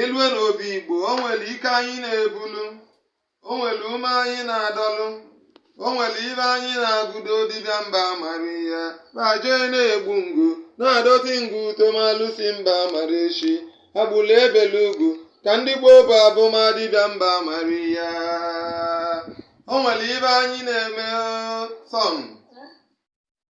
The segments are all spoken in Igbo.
e lue n'obi igbo o nwere ike anyị na-ebulu o nwere ume anyị na-adọlụ o nwere ibe anyị na-agụdo dibịa mba amara ya ma aje na-egbu ngụ na-adọti ngụ uto ma alụsị mba amara echi agbụla ebele ugwu ka ndị gboo bụ abụma dibịa mba amara ya o nwere ibe anyị na-eme sọn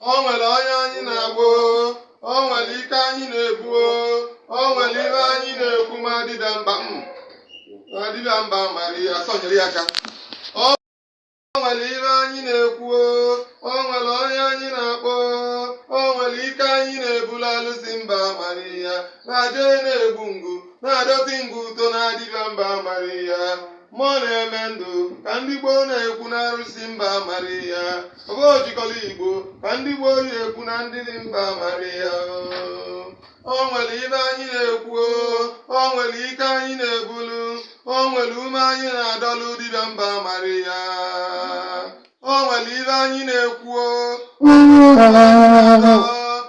o nwere onye anyị na-akpọ o, o nwere ike anyị na-ebu o, o nwere ibe anyị na-ekwu ma dibịa mba m ma dibịa mba amara ya sonyere ya aka o nwere ibe anyị na-ekwu o, o nwere onye anyị na-akpọ o, o nwere ike anyị na-ebulu alụsị mba amara ya na-aje na-egbu ngụ na-adọtị ngụ uto na dibịa mba amara ya mmụọ na-eme ndụ ka ndị gboo na-ekwu na arụsị mba amara ya Obochikọla Igbo ka ndị gboo ji ekwu na dibịa mba amara ya o nwere ibe anyị na-ekwu o nwere ike anyị na-ebulu o nwere ume anyị na-adọlụ dibịa mba amara ya o nwere ibe anyị na-ekwu o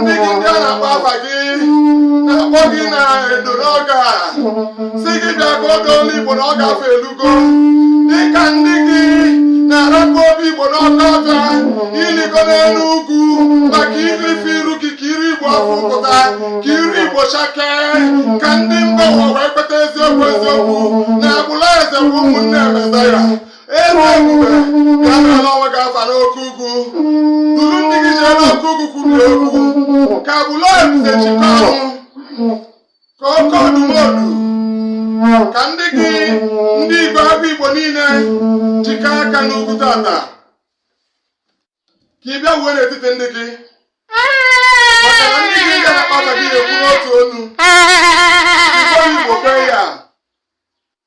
ndị gị ndị a na-akpọ afa gị na-akpọ gị na edo n'ọga sị gị bịa ka oge olu igbo na ọga afọ elugo dịka ndị gị na-arapụ obi igbo n'ọka ọka ịlịgo n'elu ugwu maka irife iru gị ka iru igbo afọ pụta ka iru igbo chakee ka ndị mba ụwa wee kweta eziokwu eziokwu na agbụla eze bụ ụmụnne emezaya eze ebube bịa n'ala onwe gị afa n'oke ugwu duru ndị gị jee n'oke ugwu kwuru okwu ka bụlọ ebube chikọ ọnwụ ka oke ọdụmodu ka ndị gị ndị igwe agụ igbo niile jikọ aka n'ugwu tata ka ị bịa wuo n'etiti ndị gị maka na ndị gị ga-akpata gị ekwu n'otu ọnụ igbo igbo kwe ya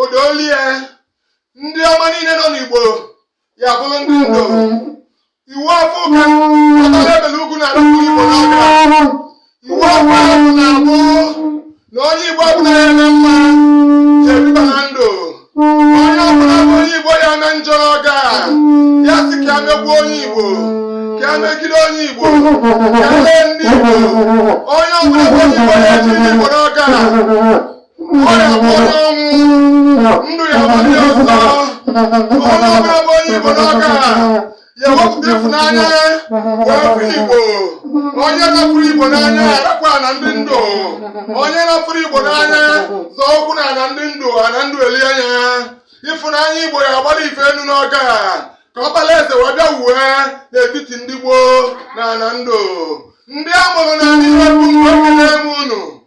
odolie ndị ọma niile nọ n'igbo ya bụrụ ndị ndo iwu afọ ụka ọtara ebele ugwu na arụrụ igbo n'aka iwu afọ ahụ na-abụ na onye igbo ọbụla ya na mma ya ebiba na ndụ onye ọbụla bụ onye igbo ya na njọ ọga ya sị ka ya megbuo onye igbo ka ya megide onye igbo ka ya lee ndị igbo onye ọbụla bụ onye igbo ya eji ndị igbo n'ọga ọrịa nwụrụ ọnwụ ndụ ya bụ ndị ọzọ onye ọbụla bụ onye igbo n'oge a ya wepụta ịfụnanya wee fụ igbo onye na-afụrọ igbo n'anya arapụ ana ndị ndụ onye na-afụrọ igbo n'anya zọ ụkwụ na ana ndị ndụ ana ndụ eli anya ịfụnanya igbo ya agbara ife enu n'oge a ka ọkpala eze wee bịa wuwe n'etiti ndị igbo na ana ndụ ndị a mụrụ na ndị iwe bụ mgbe ekele m unu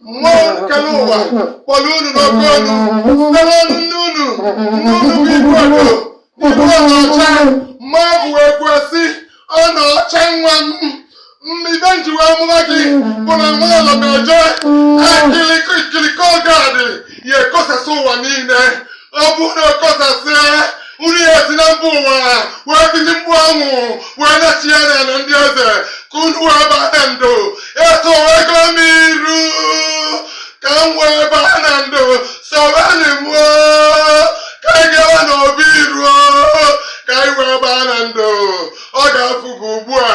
mmụọ kelụ ụwa kpọrọ unu n'oke olu site n'ọnụ nne unu nne unu bụ ibu ọdụ ibu ọdụ ọcha ma ọ bụ wee kwuo sị ọ na ọcha nwa m mbido njiwe amụma gị bụ na nwa ala na-eje akịlịkọ gadị ya ekosasị ụwa niile ọ bụrụ na ọ kọsasịa unu ya si na mba ụwa wee bili mgbe ahụ wee nachia n'ala ndị eze ka unu wee baa na ndụ etowego m iru ka m wee baa na ndụ sowenị m o, ka anyị gawa n'obi iruo ka anyị wee baa na ndụ oge akụgo ugbu a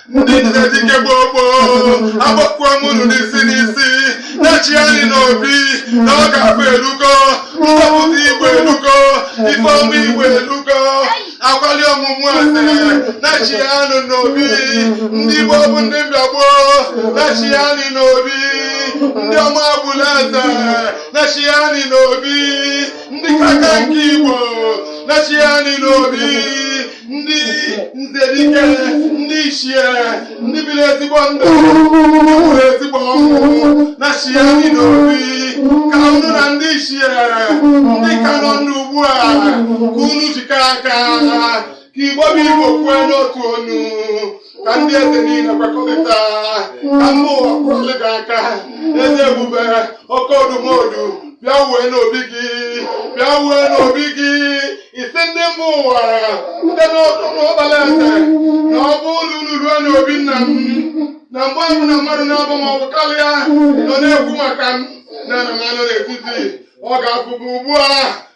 ndị eze dike gboo gboo agbakwa m unu n'isi n'isi nachianị n'obi na oge akụ elugo mgbapụta igbo elugo ife ọma igbo elugo akwali ọmụmụ eze nachianị n'obi ndị igbo bụ ndị mbịa gboo nachianị n'obi ndị ọmabala eze nachianị n'obi ndị kaka nke igbo nachianị n'obi ndị isi ndị dike ndị ichie ndị biri ezigbo ndụ nwere ezigbo ọnwụ nachianị n'obi ka unu na ndị ichie ndị ka nọ ndụ ugbu a ka unu jikọ aka ka igbo bụ igbo kwue n'otu onu ka ndị eze niile kwekọrịta ka mba ụwa kụọrọ gị aka eze ebube oke odumodu bịawe n'obi gị bịawe n'obi gị ị sị ndị mba ụwa site n'ọnụ m ọkpala eze na ọ bụrụ unu ruo n'obi nna m na mgbe ọbụna mmadụ naabọ ma ọ bụ karịa nọ na-ekwu maka m na na m anọ n'etiti oge akụgo ugbu a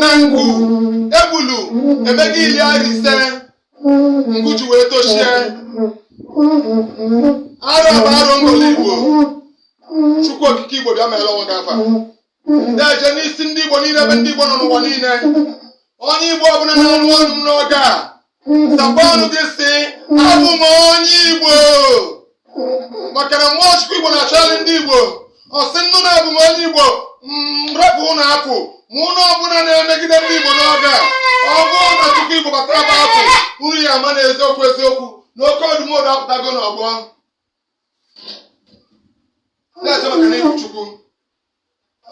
na mgbu egbulu emego iri arọ ise ngụ ji wee tochie arọ a bụ arọ ngọla igbo chukwu okike igbo bịa mere ọnwa gafa ndị eje n'isi ndị igbo niile ebe ndị igbo nọ n'ụwa niile onye igbo ọbụla na-anụ onu m n'oge a Saakwa ọnụ gị sị abụ m onye Igbo maka na mmụọ Chukwu Igbo na-achọgharị ndị Igbo ọ sị nnụ na abụ m onye Igbo mrepụ ụlọ apụ ma ụlọ ọbụla na-emegide ndị Igbo n'oge a ọ bụrụ na Chukwu Igbo batara bụ apụ uru ya ama na eziokwu eziokwu na oke odumodu apụtago n'ọgbọ na-eche maka na Chukwu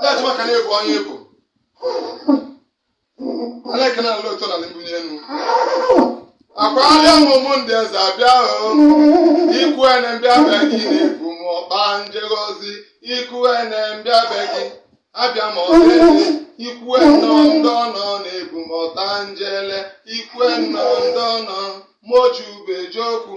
Ada chama ka na-ebu onye ebu. Ada ka na-alụ ụtọ na mbunye enu. Akwa alịa ụmụ ndị eze abịa o. Ikwu ene mbịa be gị na-ebu m ọta njegọzi. Ikwu ene mbịa be gị. Abịa m ọsọ eze. Ikwu ene ndị ọnọ na-ebu m ọta njele. Ikwu ene ndị ọnọ. Moju beji okwu.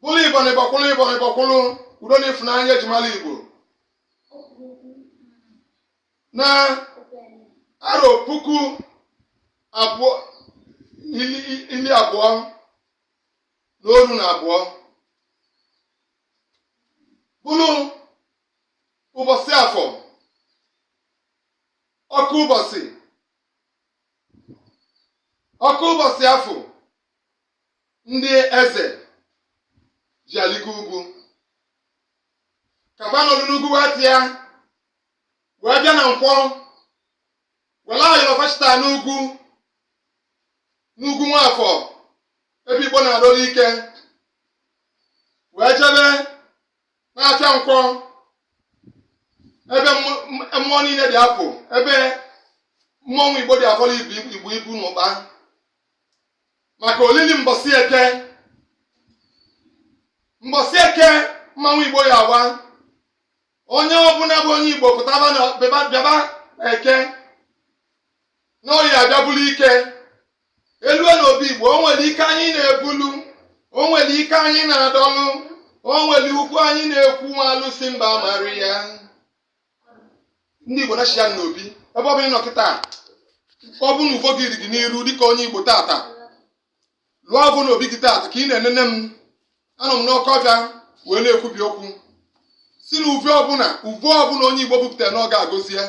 bụlụ igbo na ịgbakwụlụ igbo na ịgbakwụlụ udo na ịfụnanya e ji mala igbo na arọ puku abụọ ili abụọ na oru na abụọ bụlụ ụbọsị afọ ọkụ ụbọsị ọkụ ụbọsị afọ ndị eze ji aligo ugwu ka fa nọdụ n'ugwu wee tịa wee bịa na nkwọ welu ayọrọ fachita n'ugwu n'ugwu nwafọ ebe igbo na-adọlụ ike wee jebe n'afịa nkwọ ebe mmụ- m- mmụọ niile dị apụ ebe mmọnwụ igbo dị afọrọ ibu ibu ibu n'ụkpa maka olili mbọsị eke mbọsị eke mmanwụ igbo ya-awa onye ọbụla bụ onye igbo pụtaba na bịaba bịaba eke na oye abịa bulu ike elue na obi igbo o nwere ike anyị na-ebulu o nwere ike anyị na-adọlụ o nwere okwu anyị na-ekwu nwa alụsị mba mara ya ndị igbo nachi ya n'obi ebe ọ bụla ị nọ kịta ọ bụ na uvo gị dị gị n'iru dịka onye igbo tata lụọ ọgụ n'obi gị tata ka ị na-enene m anọ m n'ọkọ ọbịa wee na-ekwubi okwu sị na uve ọbụla uve ọbụla onye igbo bupụtara na ọ ga-agọzi ya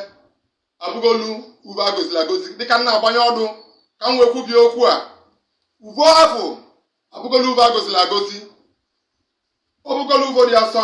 abụgolu uve agọzili agọzi dịka m na-agbanye ọdụ ka m wee kwubie okwu a uvo afụ abụgolu uve agọzili agọzi ọ bụgolu uvo dị asọ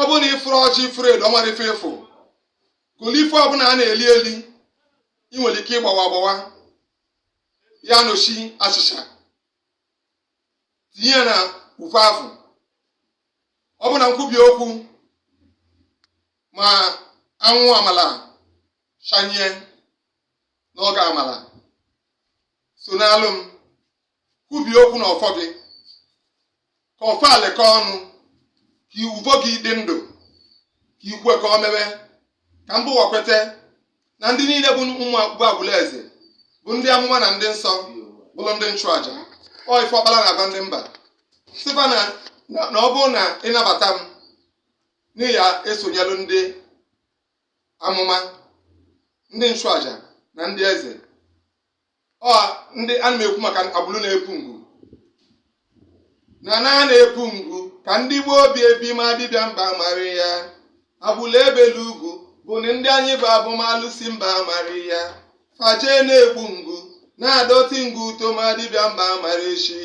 ọ bụrụ na ị fụrọ ọjị ị fụrọ elu ọnwa ife ị fụ gọlụ ife ọbụla a na-eli eli ị nwere ike ịgbawa agbawa ya nochi achịcha tinye ya na uvo afụ ọ bụ na nkwubi okwu ma anwụ amala shanye n'oge amala so n'alụ m kwubie okwu na ọfọ gị ka ọfọ alịkọ ọnụ ka iwuvo gị dị ndụ ka ikwe ka ọ mewe ka mba ụwa kweta na ndị niile bụ ụmụ bụ agbụlụ eze bụ ndị amụma na ndị nsọ bụrụ ndị nchụaja ọ ife ọkpara na-agwa ndị mba sị fa na na- na ọ bụrụ na ị nabata m na ị ya-esonyelu ndị amụma ndị nchụaja na ndị eze ọ ndị ana m ekwu maka agbụrụ na-epu ngwu na na a na-epu ngwu ka ndị gboo obi ebi ma dibịa mba amara ya agbụrụ e belu ugwu bụ na ndị anyị bụ abụ ma alụsị mba amara ya fa je na-egbu ngwu na-adọti ngwu uto ma dibịa mba amara echi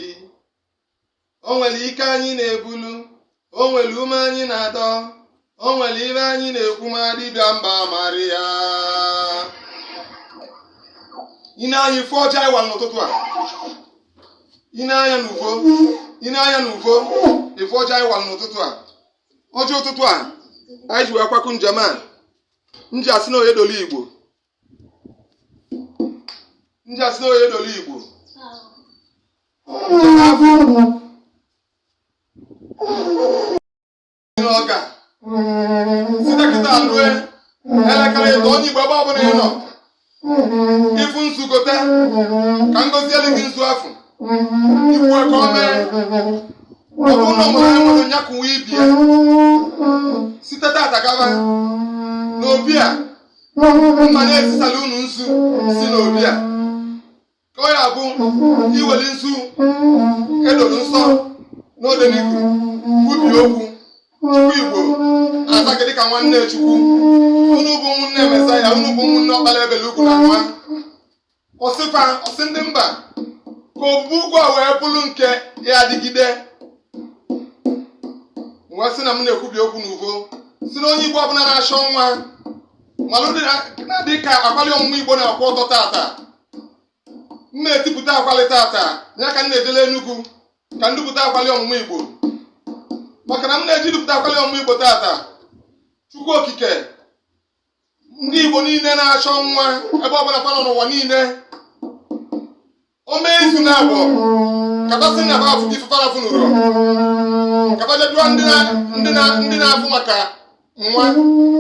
o nwere ike anyị na-ebulu o nwere ume anyị na-adọ o nwere ife anyị na-ekwu ma dibịa mba amara ya ine anya ịfụ ọcha ịwa n'ụtụtụ a ine anya n'uvo ine anya n'uvo ịfụ ọcha ịwa n'ụtụtụ a ọcha ụtụtụ a anyị ji wee kwakụ njem a m ji asị na onye dolu igbo m ji asị na onye dolu igbo na ọ ga-esite kịta alue elekere ịtọ onye igbo ebe ọbụla ị nọ ị fụ nzu gote ka ngọzi elu gị nzu afọ iwu aka ọ mee ọbụ ụlọ mụrụ anyị nwere nya kụwa ibie site tata gaba n'obi a m na-ezisalụ unu nzu si n'obi a ka ọ ya-abụ i weli nzu e doro nsọ n'odeniku kwubi okwu chukwu igbo azaa gị dịka nwanne chukwu unu bụ ụmụnne mesaya unu bụ ụmụnne ọkpara e belu ugwu na nwa ọ sị fa ọ sị ndị mba ka obu ụgwọ a wee bụrụ nke ya-adịgide wee sị na m na-ekwubi okwu n'uvo si na onye igbo ọbụla na-achọ nwa malụ dị na- na-adị ka akwali ọmụmụ igbo na-akwụ ọtọ tata m na-edupụta akwali tata ya ka m na-edele Enugu ka m dupụta akwali ọmụmụ igbo maka na m na-eji dupụta akwali ọmụmụ igbo tata chukwu okike ndị Igbo niile na-achọ nwa ebe ọbụla fa nọ n'ụwa niile o mee izu na abụọ ka fa sị na fa afụ ife fa na-afụ n'ụlọ ka fa jedụọ ndị na-afụ maka nwa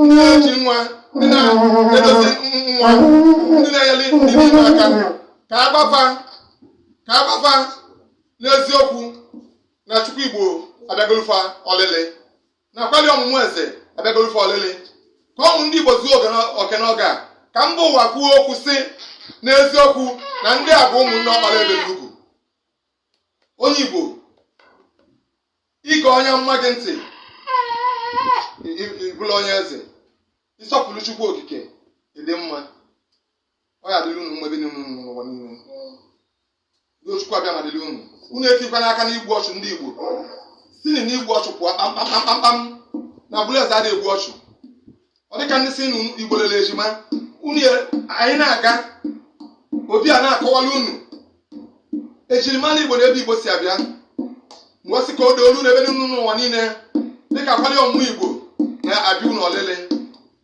ndị na-eji nwa ndị na-edozi nwa ndị na-enyere ndị niile aka ka a gwa fa ka a gwa fa n'eziokwu na Chukwu Igbo abịagolu fa ọlịlị na akwali ọmụmụ eze abịagoro fa ọlịlị ka o mee ndị Igbo zuo oke n'oge a ka mba ụwa kwuo okwu sị n'eziokwu na ndị a bụ ụmụnne ọbala ezugo onye Igbo ịga onye na-ege ntị ị bụla onye eze ị sọpụrụ Chukwu okike ịdị mma ọ ya-adịrị unu mgbe dị n'ụwa niile Udo Chukwu Abịama dịrị unu unu etikwana aka n'igbu ọchụ ndị Igbo sinụ n'igbu ọchụ pụọ kpamkpamkpamkpam na agbụrụ eze adịghị egbu ọchụ ọ dịka ndị si Igbo lere ejima unu anyị na-aga ọ bịa na-akọwala unu ejirimara Igbo na ebe Igbo si abịa mgbe ọ sị ka o doo olu n'ebe unu n'ụwa niile dịka akwali ọmụmụ Igbo na-abịa unu ọlịlị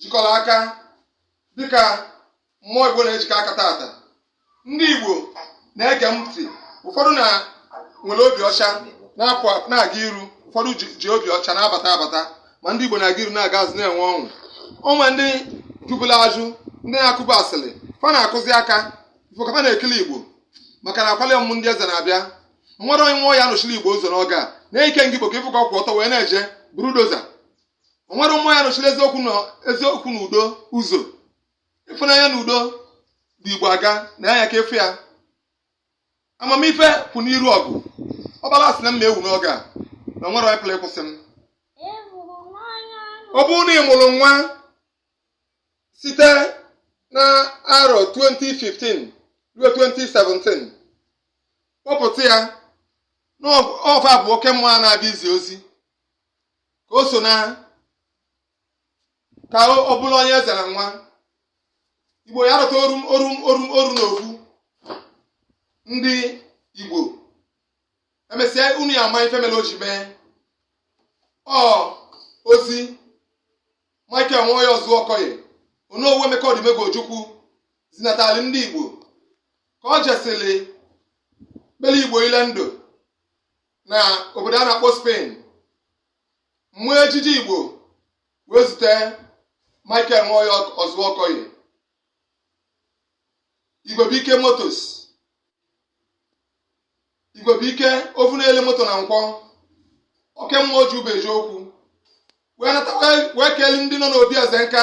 jikọla aka dịka mmụọ igbo na-ejikọ aka taata ndị igbo na-ege m ntị ụfọdụ na-ewere obi ọcha na-apụ na-aga iru ụfọdụ ji ji obi ọcha na-abata abata ma ndị igbo na-aga iru na-aga azụ na-enwe ọṅụ onwe ndị jụbulu ajụ ndị na-akụbu asịrị fa na-akụzi aka ife ọ ka m na-ekele igbo maka na akwali ọmụmụ ndị eze na-abịa nwerọ onye nwa ya-anọchiri igbo ụzọ n'oge a na ikenga igbo ka ị fụ ka ọ kwụ ọtọ wee na-eje bulldozer o nwerọ mmụọ ya-anọchiri eziokwu na eziokwu na udo ụzọ ịfụnanya na udo bu igbo aga na anya ka efu ya amamife kwụ n'iru ọgụ ọbala sị na m ma ewu n'oge a na o nwerọ onye pụrụ ịkwụsị m ọ bụrụ na ị mụrụ nwa site na arọ 2015 ruo 2017 kpọpụta ya n'ọfa bụ oke mmụọ na-abịa izi ozi ka o so na ka ọ bụrụ onye eze na nwa igbo ya-arụta ọrụ n'okwu ndị igbo emesịa unu ya-ama ife mere o ji mee ọ ozi michael nwoye ozuokoye onowu emeka odumegwu ojukwu zinatali ndị igbo ka ọ jesịrị kpere igbo ile ndụ na obodo a na-akpọ Spain mmụọ ejiji Igbo wee zite Michael Nwoye Ozuokoye Igwebuike Motors Igwebuike afụ na-ele moto na nkwọ oke mmụọ ji ube eziokwu wee nata wee keli ndị nọ n'obi eze nka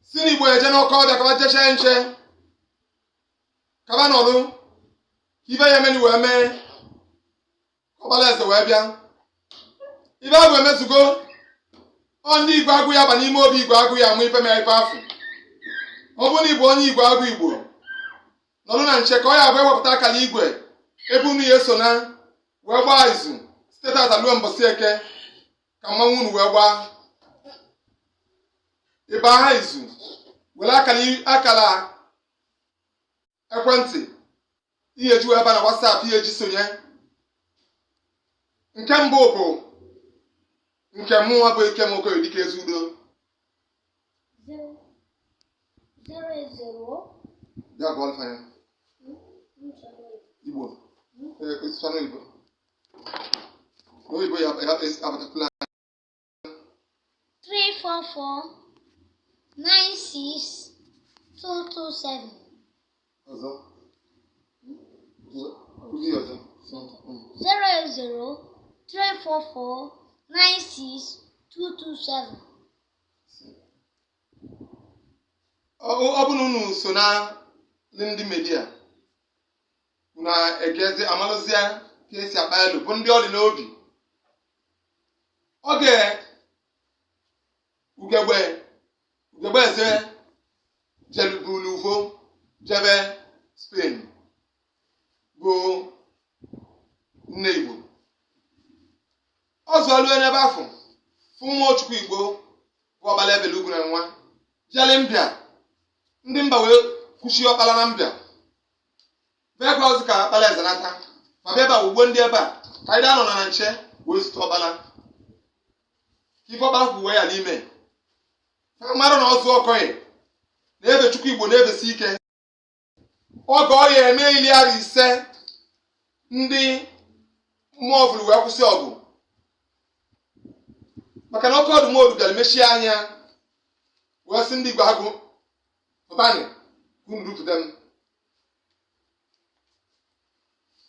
si n'Igbo eje n'ọkọ ọbịa ka ọ jee chee nche ka va nọdụ ka ive ya-emeni wee mee ọkpala eze wee bịa ive ahụ emezugo ọ ndị igwe agụ ya ba n'ime obi igwe agụ ya mụ ife mere ife afụ ọ bụrụ na ịbụ onye igwe agụ igbo nọdụ na nche ka ọ ya abụ ewepụta akara igwe ebe unu ya eso na wee gbaa izu site tata ruo mbọsị eke ka mụ na unu wee gbaa ịba ha izu were akara ekwentị ị ya-eji wee ba na WhatsApp ị ya-eji sonye nke mbụ bụ nke mụnwa bụ ikem okoye dike ezi udo bịa gụọ alfa ya igbo ee, osisi anụ igbo oyibo ya ya- ya- abatakula 344-96-227. Ọzọ. Ndị ọzọ. 080-344-96-227. Ọ ọ bụrụ na unu so na ndị media na-egezi amalụzie ka esi akpa elu bụ ndị ọ rị n'obi oge ugegbe ugegbe eze jelubulu uvo jebe Spain bụ nne igbo ọ zụọlue n'ebe afụ fụ nwa ochukwu igbo bụ ọbala ebele ugwu na nwa jeli mbịa ndị mba wee kwụsị ọkpala na mbịa mekwa ozi ka ọkpala eze nata ma bịa ebe a ugbo ndị ebe a ka anyị anọ na na nche wee zute ọkpala ife ọkpala kwuwe ya n'ime ha mara na ọzụ ọkọghị na ebe chukwu igbo na-ebesi ike oge ọ ya eme ili na ise ndị mmụọ ọbụla wee kwụsị ọgụ maka na oke odumodu bịara mechie anya wee sị ndị igbo agụ pụtanị ka unu rupụta m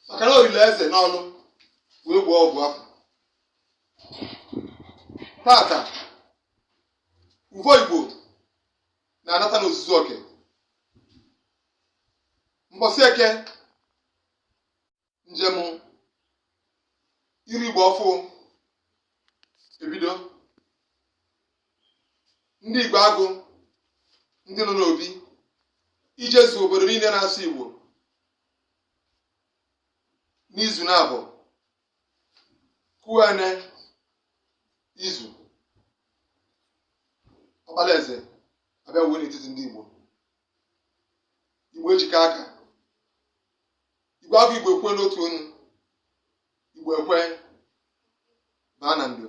maka na olile eze n'ọnụ wee gbaa ọgwụ afụ tata uvo igbo na-anata n'ozuzu oke mbọsị eke njem iri igbo ọfụ ebido ndị igbo agụ ndị nọ n'obi ijezu obodo niile na-asụ igbo n'izu na-abụ kuene izu ọkpalaeze abịawo n'etiti ndị igbo igbo ejikọ aka igwe agụ igbo ekwe n'otu onu igbo ekwe baa na ndo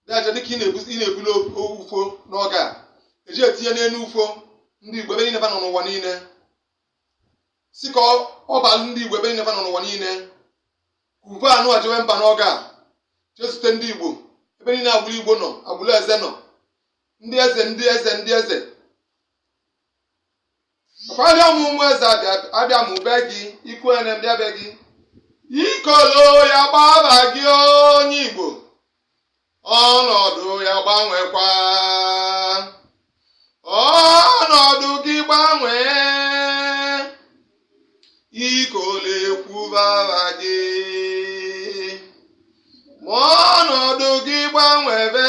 na-eje dịka ị na-ebuli ufo n'oge a eji etinye n'elu ufo ndị igbo ebe niile nọ n'ụwa niile si ka ọ balụ ndị igbo ebe niile nọ n'ụwa niile kuve anụ a jewe mba n'oge a jee zute ndị igbo ebe niile agbụrụ igbo nọ agbụrụ eze nọ ndị eze ndị eze ndị eze abịa m ụmụ eze abịa m be gị i kwe na m bịa be gị ikolo ya gbaba gị onye Igbo ọnọdụ ya gbanwekwa ọnọdụ gị gbanwee ikolo ekwubara gị ma ọnọdụ gị gbanwebe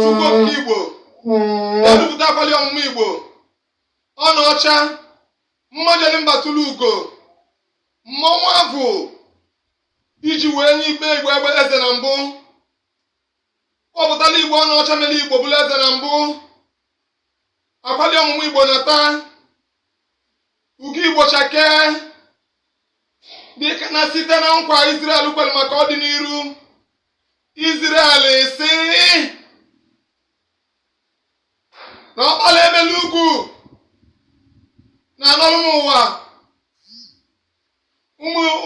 Chukwu okike Igbo edupụta akwali ọmụmụ Igbo ọnụ ọcha mmọ jeli mba tụrụ ugo mmọnwụ agụ e ji wee nye ikpe Igbo abụla eze na mbụ kpọpụtala Igbo ọnụ ọcha mere Igbo bụla eze na mbụ akwali ọmụmụ Igbo na taa ugo Igbo chakee dịka na site na nkwa Israel kwelu maka ọdịnihu Izrel sị na ọkpala ebe n'ugwu na-anọrụ m ụwa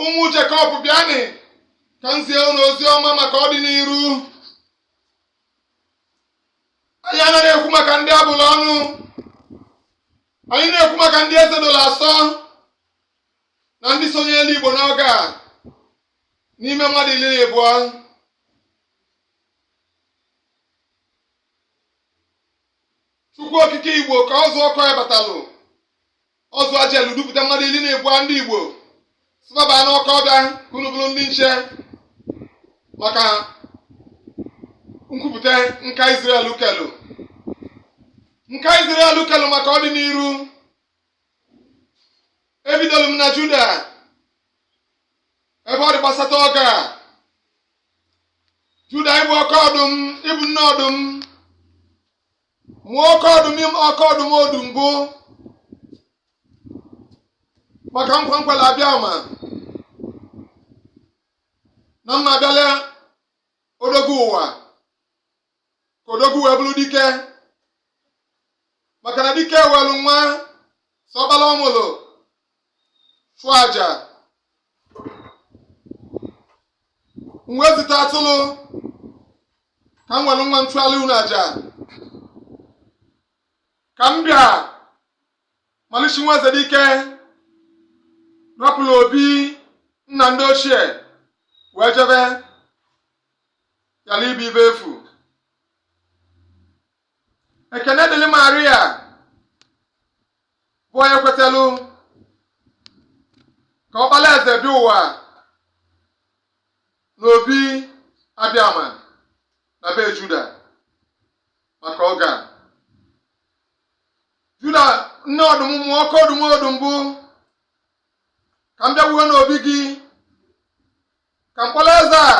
ụmụ Jekọb bịanị ka m zie unu ozi ọma maka ọdịnihu anyị anaghị ekwu maka ndị a bụlụ ọnụ anyị na-ekwu maka ndị eze doro asọ na ndị sonyere Igbo n'oge a n'ime mmadụ iri na abụọ chukwu okike igbo ka ọ zụọ ọkụ ya batalụ ọ zụọ jelu dupụta mmadụ iri na abụọ ndị igbo sị bata n'ọkụ ọbịa ka unu bụrụ ndị nche maka nkwupụta nkwa Israel kwelu nkwa Israel kwelu maka ọdịnihu ebidolu m na Juda ebe ọ dị gbasata oge a juda ị bụ oke ọdụm ị bụ nne ọdụm mụọ oke ọdụm ị mụọ oke ọdụm ọdụm bụ maka nkwa m kwala abịama na m abịala odogwu ụwa ka odogwu wee bụrụ dike maka na dike welu nwa sọbala ọ mụlụ chụọ aja m wee zite atụlụ ka m welu nwa m chụalụ unu aja ka m bịa malichi nwa eze dike rapụlụ obi nna ndị ochie wee jebe ghala ịbụ ife efu ekene dịrị maria bụ onye kwetelu ka ọkpala eze bịa ụwa n'obi abịama na be juda maka oge a juda nne ọdụm mụọ oke ọdụm ọdụm bụ ka m bịawuo n'obi gị ka mkpụlụ eze a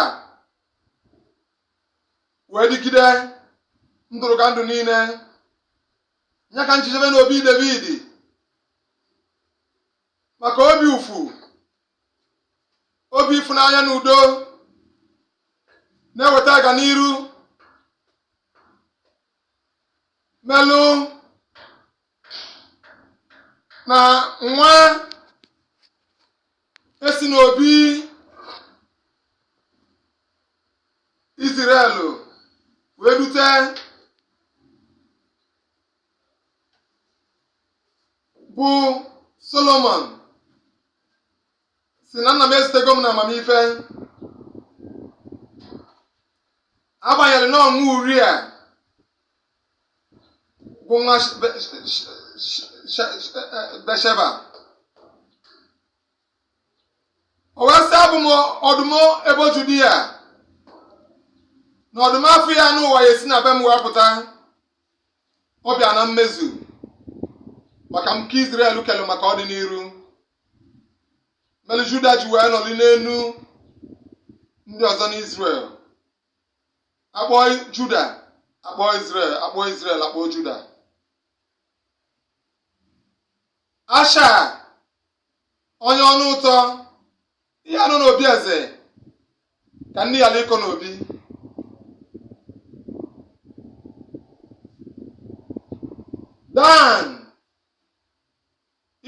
wee dịgide ndụdụgandụ niile ya ka nchechebe n'obi David maka obi ịfụ obi ịfụnanya na udo na-eweta aga n'iru melụ na nwa e si n'obi Izrel wee dute bụ Solomon sị na nna m ezitego m na amamife agbanyere na ọnwụ Uria bụ nwa Besheba o wee sị abụ m ọdụm ebo Judia na ọdụm afụ ya n'ụwa ya-esi na be m wee pụta ọ bịa na mmezu maka m ka Izrel kelụ maka ọdịnihu mere Juda ji wee nọrị n'elu ndị ọzọ n'Izrel a kpọọ juda a kpọọ israel a kpọọ israel a kpọọ juda asha onye ọnụ ụtọ ihe anụ n'obi eze ka nne ya n'iko n'obi dan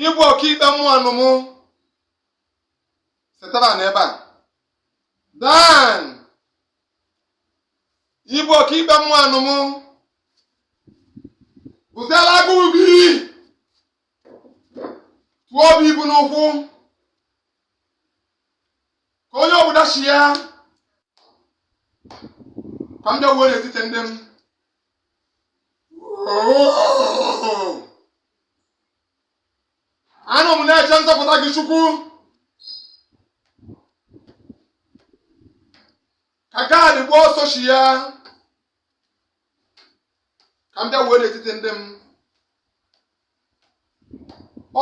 ị bụ ọkaikpe mmanụ m setara na ebe a Dan ị bụ ọkaikpe mmanụ m bụziela agụụ gị tụọ obi ibu n'ụkwụ ka onye ọbụla si ya ka m bịawuo n'etiti ndị m anọ m na-eche nzọpụta gị chukwu ka gad gbuo ọsọ chi ya ka m bịa wee n'etiti ndị m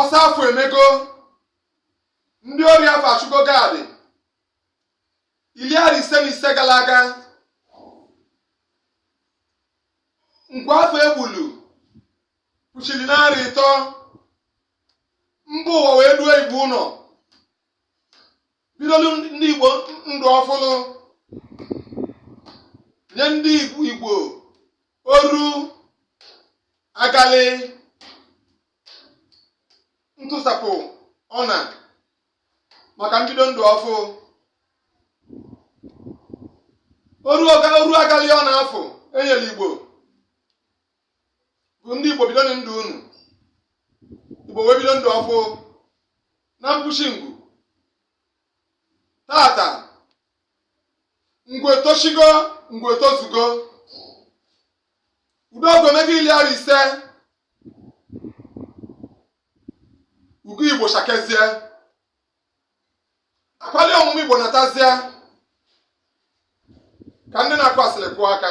ọsọ afọ emego ndị ori afọ achụgo gad iri arọ ise na ise gara aga ngwa afọ egbulu kpuchiri narị ịtọ mba ụwa wee duo igbo ụnọ bidolu ndị igbo ndụ ọfụlụ nye ndị igbo oru agalị ntụsapụ ọna maka mbido ndụ ọfụ oru agalị ọna afụ e nyere igbo bụ ndị Igbo bidonụ ndụ unu Igbo wee bido ndụ ọfụ na mkpuchi ngwu tata ngwu etoshigo ngwu etozugo udogo mego iri arọ ise ugo Igbo shakezie akwali ọmụmụ Igbo natazie ka ndị na-akụ asịrị kụọ aka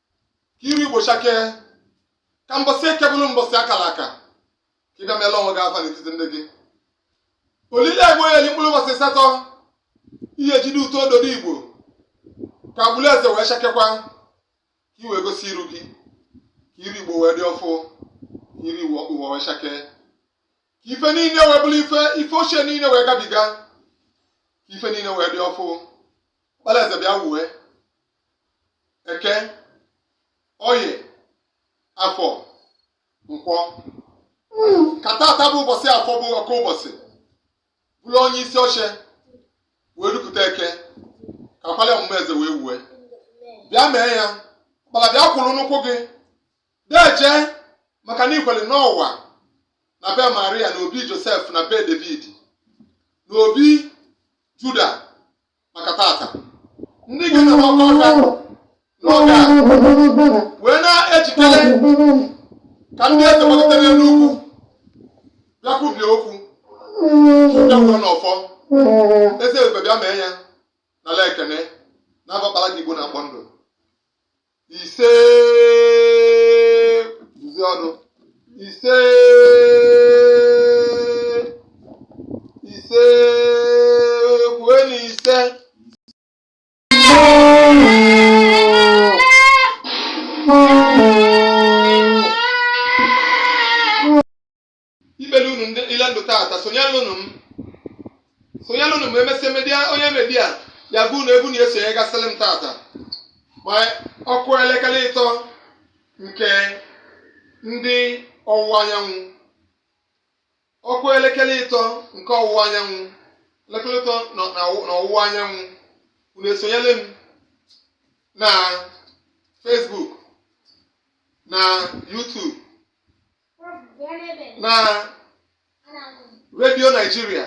ka iru igbo chakee ka mbọsị eke bụrụ mbọsị akara aka ka ị bịa meelu onwe gị afa n'etiti ndị gị olie egbo ya mkpụrụ ụbọsị asatọ ihe jide ụtọ ododo igbo ka agbụrụ eze wee chakekwa ka i wee gosi iru gị ka iru igbo wee dị ọfụ ka iru ụwa wee chakee ka ife niile wee bụrụ ife ife ochie niile wee gabiga ka ife niile wee dị ọfụ ọkpara eze bịa wuwe eke oye afọ nkwọ ka tata bụ ụbọsị afọ bụ ọkụ ụbọsị bụrụ onye isi oche wee rupụta eke ka akwali ọmụmụ eze wee wue bịa mee ya ọkpara bịa kwụrụ n'ụkwụ gị deje maka na i kwere n'ụwa na be maria na obi josef na be david na obi juda maka tata ndị ga na-agba ọka n'oge a wee na-ejikere ka ndị eze gbagidere n'ugwu bịa kwubie okwu bịa kwuo n'ọfọ eze ebube bịa mee ya n'ala ekene na-abakpara gị igbo na-akpọ ndụ ise duzi ọnụ ise ise kwue na ise imeli unu ndị ile ndụ tata sonyelụnụ m sonyelụnụ m mass media onye media ya bụ na ebu na esonyegasịrị m tata ma ọ kụọ elekere ịtọ nke ndị ọwụwa anyanwụ ọ kụọ elekere ịtọ nke ọwụwa anyanwụ elekere ịtọ nọ na ọwụ- na ọwụwa anyanwụ unu esonyere m na Facebook na YouTube na redio nigeria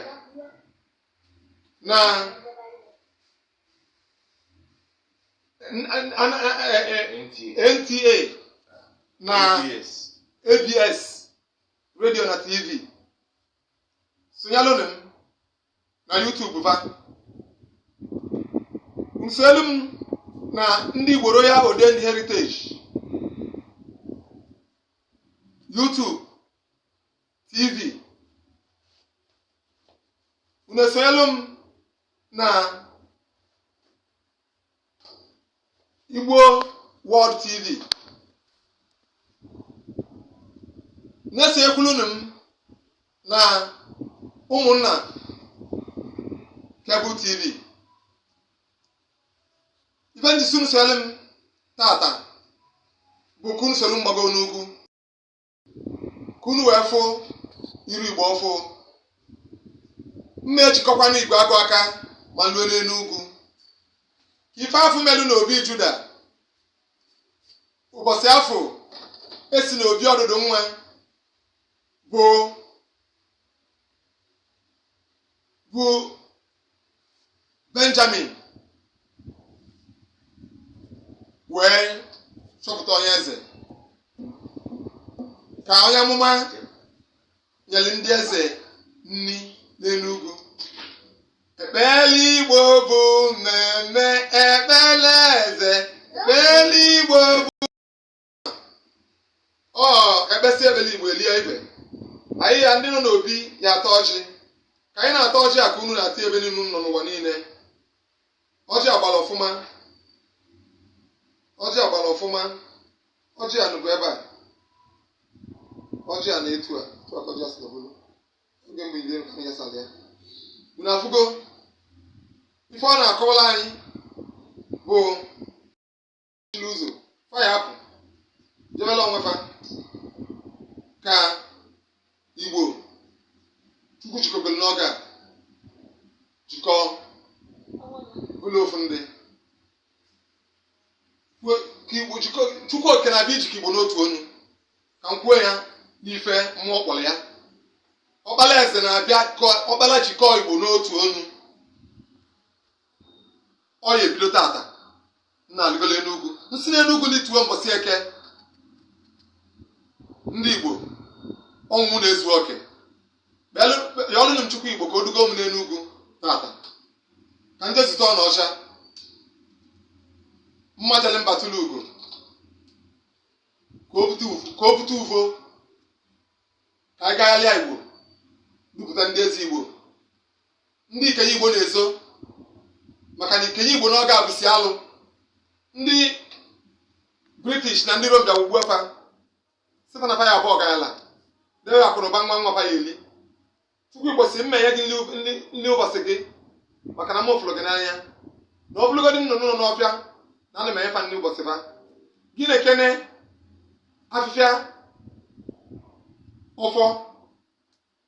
na nta na abs redio na tv sonyelụnụ m na YouTube ba unu esolu m na ndị Igbo Royal Odendi Heritage YouTube TV unu esonyelu m na Igbo World TV na-esokwulunu m na ụmụnna Cable TV ife m ji sị unu soro m tata bụ ka unu soro m gbagoo n'ugwu ka unu wee fụ iru igbe ọfụ na-ejikọkwa na igwe agụ aka ma lue n'enu ugwu ife afụ melu na obi juda ụbọsị afụ esi na obi ọdụdụ nwa bụ bụ benjamin wee chọpụta onye eze ka onye amụma nyere ndị eze nri n'elu ugwu ekpele igbo bụ mmemme ekpele eze ekpele igbo bụ ọ ekpesị ekpele igbo elie ibe anyị ya ndị nọ n'obi ya ata ọjị ka anyị na-ata ọjị a ka unu na-ata ebe niile unu nọ n'ụwa niile ọjị agbala ọfụma ọjị agbala ọfụma ọjị a nọbu ebe a ọjị a nọ etu a etu a ka ọjị a si nọbụrụ oge mgbe ide nka ya sara ya unu afụgo ife ọ na-akọwala anyị bụ chiri ụzọ fa ya apụ jebela onwe fa ka igbo chukwu jikọbere n'oge a jikọọ ụlọ ofu ndị Kwe- ka igbo jikọ chukwu okike na-abịa ijikọ igbo n'otu ọnụ ka m kwuo ya n'ife mmụọ kpọrọ ya ọkpala eze na-abịa kọ- ọkpala jikọọ igbo n'otu ọnụ ọ ya-ebido tata nna alịgola enu ugwu m sị n'enu ugwu n'ituwe mbọsị eke ndị igbo ọnwụ na-ezu oke ya ọnụnụ m chukwu igbo ka o dugo m n'enu ugwu tata ka ndị zute ọ na ọcha mma jele mba tụlụ ugo ka o bute ugo- ka o bute ugo ka anyị gagharịa igbo dupụta ndị ezi igbo ndị ikenye igbo na-ezo maka na ikenye igbo n'oge a bụsi alụ ndị british na ndị rom bịa ghọgbua fa sị fa na fa ya-abụ ọgalanya debe akụnụba nwa nwa fa ya-eli chukwu igbo sị m ya-enye gị nli- nli nli ụbọsị gị maka na m fụlụ gị n'anya na ọ bụlụgodi nnụnụ nọ n'ọfịa na ana m enye fa nli ụbọsị fa gị nekene afịfịa ọfọ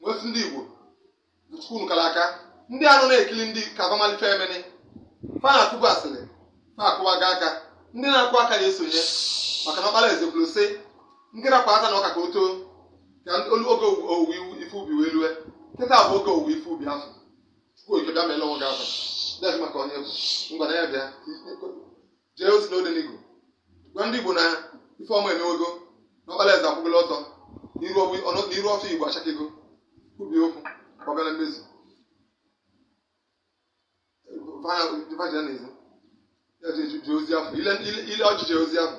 m wee sị ndị igbo chukwu kara aka ndị anụ na-ekiri ndị ka fa malụ ife emene fa na-atụbu asịrị fa akụwaga aka ndị na-akụ aka na-esonye maka na ọkpara eze kwulu sị nekene kwa ata na ọka ka o too ka ndị- olu- oge owuwe iwu ife ubi wee lue kịta bụ oge owuwe ife ubi afọ chukwu okike bịa ma ele onwe gị afọ dek maka onye bụ ngwa na ya bịa jee ozi n'Odenigbo gwa ndị Igbo na ife ọma emewego na ọkpara eze akwụgolo ọtọ n'iru ọbụ- ọnọ- n'iru ọfọ Igbo achakego ubi okwu ka ọ bịa na mmezu fa ji na-ezu ya ji eju- ji ozi afọ ile ile- ile o ji eje ozi afọ